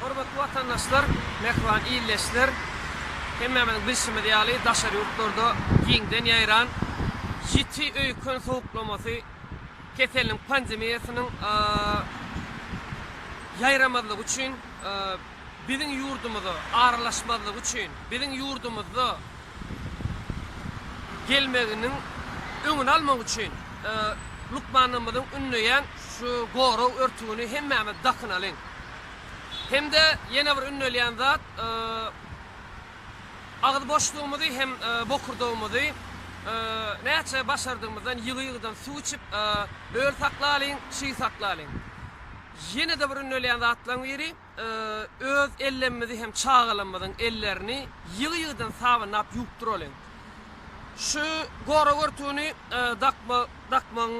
Hormatly watandaşlar, mähriban ildeşler! Hemmämiziň bilşimiz ýaly, daşary ýurtlarda giňden ýaýran ýiti öýken sowuklamasy keseliniň pandemiýasynyň ýaýramazlygy üçin biziň ýurdumyza aralaşmazlygy üçin biziň ýurdumyzda gelmeginiň öňüni almak üçin lukmanlarymyzyň ündeýän şu gorag örtügini hemmämiz dakynalyň. Hem-de ýene bir ündelýän zat, agyz boşlugymyzy hem bokurdagymyzy näçe başardygymyzdan ýygy-ýygydan suw içip, öl saklalyň, çyg saklalyň. Ýene-de bir ündelýän zatlaryň biri, Öz ellemimizi hem çagalarymyzyň ellerini ýygy-ýygydan sabynlap ýuwupdyralyň. Şu gorag örtügini dakmagyň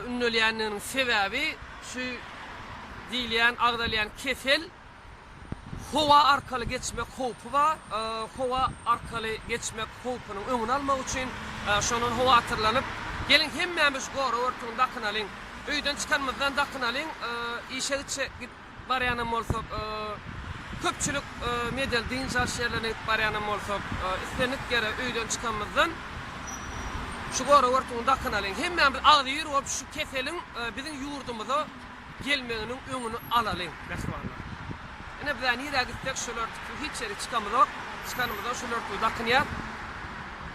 ündelýändiginiň sebäbi şu diýilýän, agzalýan kesel howa arkaly geçmek howpy bar. Howa arkaly geçmek howpunyň öňüni almak üçin şondan howatyrlanyp, geliň hemmämiz gorag örtügini dakynalyň. Öýden çykanymyzdan dakynalyň. Işe gitjek. Barýanam bolsak, köpçülik medial dynç alyş ýerlerine gidip barýanam bolsak, islendik ýere öýden çykanymyzdan şu gorag örtügini dakynalyň. Hemmämiz agzybir bolup şu keseliň biziň ýurdumyza gelmeginiň öňüni alalyň, mähribanlar. Ine biz-ä nirä gitsek şol örtüksiz hiç ýere çykamyzok. Çykanymyzdan şol örtügi dakynýas.